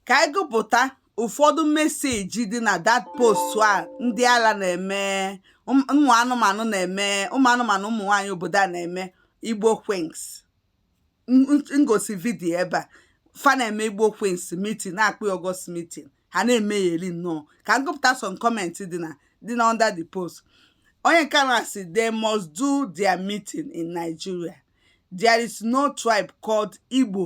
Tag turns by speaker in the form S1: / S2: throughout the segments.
S1: ka anyị gụpụta ụfọdụ message dị na that post a ndị ala na-eme ụmụ anụmanụ na-eme ụmụ anụmanụ ụmụ nwaanyị obodo a na-eme Igbo Queens m gosi video ebe a fa na-eme Igbo Queens meeting na-akpọ August meeting ha na-eme yearly nnọọ ka m gụpụta some comment dị na dị na under the post onye nke a na-asị they must do their meeting in Nigeria there is no tribe called Igbo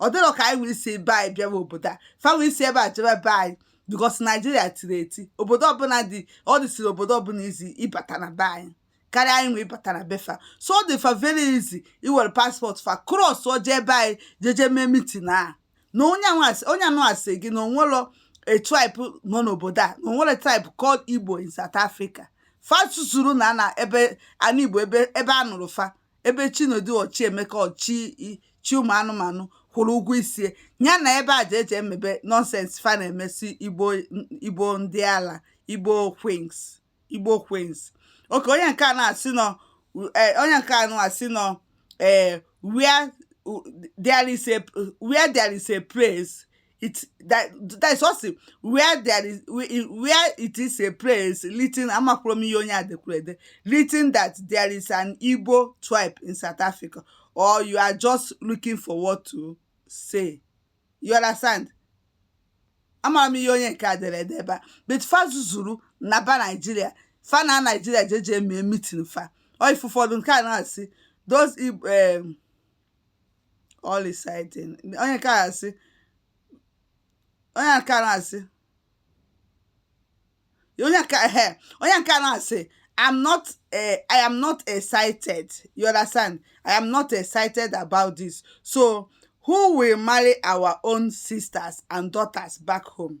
S1: ọ dịrọ ka anyị wee si be anyị bịawa obodo a fa wee si ebe a jebe be anyị because naijiria tiri eti obodo ọbụla dị ọ dịsiri obodo ọbụla easy ịbata na be anyị karịa anyị wee bata na be fa so ọ dị fa very easy iwere passport fa cross o je be anyị jeje mee meeting a na onye a na-asị gị na o nwelọ a tribe nọ n'obodo a na o nwerọ tribe called igbo in south africa fa zuzuru naa na ebe ana igbo ebe a mụrụ fa ebe Chinedu Ọchịemeka ọchị chi ụmụ anụmanụ kwụrụ ụgwọ isi ya na ebe a jeje emebe nonsense fa na-eme sị igbo ndị ala Igbo Queens Igbo Queens okay onye nke a na-asị nọ eh, onye nke a na-asị nọ ee eh, where there is a where there is a place it that that is also where there is where it is a place written amakwarọ m ihe onye a dekwuru ede written that there is an Igbo tribe in South Africa or you are just looking for what to say you understand amarọ m ihe onye nke a dere ede ebe a but fa zuzuru naba Naijiria fa naa Naijiria jeje mee meeting fa ọ ife ụfọdụ nke a na-asị those um, all exciting onye nke a asị onye nke a na-asị onye nke ehe onye nke a na-asị I'm not uh, I am not excited you understand I am not excited about this so who will marry our own sisters and daughters back home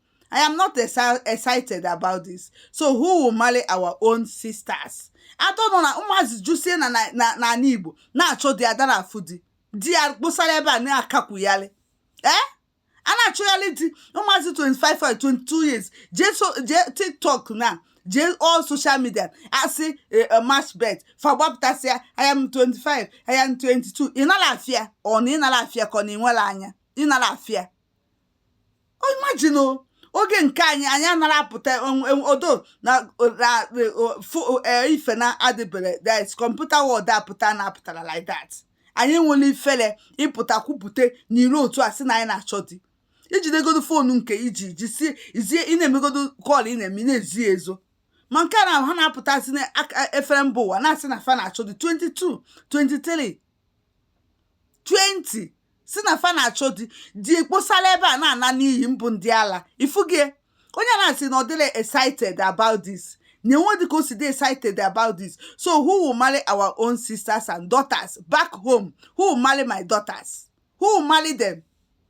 S1: I am not excited about this. So who will marry our own sisters? I don't know na ụmụazị jusie na n'ala Igbo na-achọ di a dara afụ di di ya kpụsara ebe a na-akakwuyalị ee eh? a na-achọgharị di ụmụazị 25 22 years jee tiktok na jee all social media asị eh, eh, match bet fa gbapụtasịa I am 25 I am 22 ị nara afịa ọ na ị nara afịa ka ọ na ị nwere anya ị nara afịa imagine oge nke anyị anyị anara apụta although na e, ife na adịbere that computer world apụta na apụtara like that anyị nwere ifere ịpụta kwupụta n'iro otu a sị na anyị na-achọ di i jidegodo phone nke i ji jisie izie ị na-emegodo call ị na-eme na-ezo ezo ma nke a na ha na-apụtazi n'efere mba ụwa na-asị na fa na-achọ di 22 23 20 si na fa na-achọ di di ekposala ebe a na-ana n'iyi mbụ ndị ala ifugie onye na-asị na ọ dịla excited about this na e nwedị ka o si dị excited about this so who will marry our own sisters and daughters back home who will marry my daughters who will marry them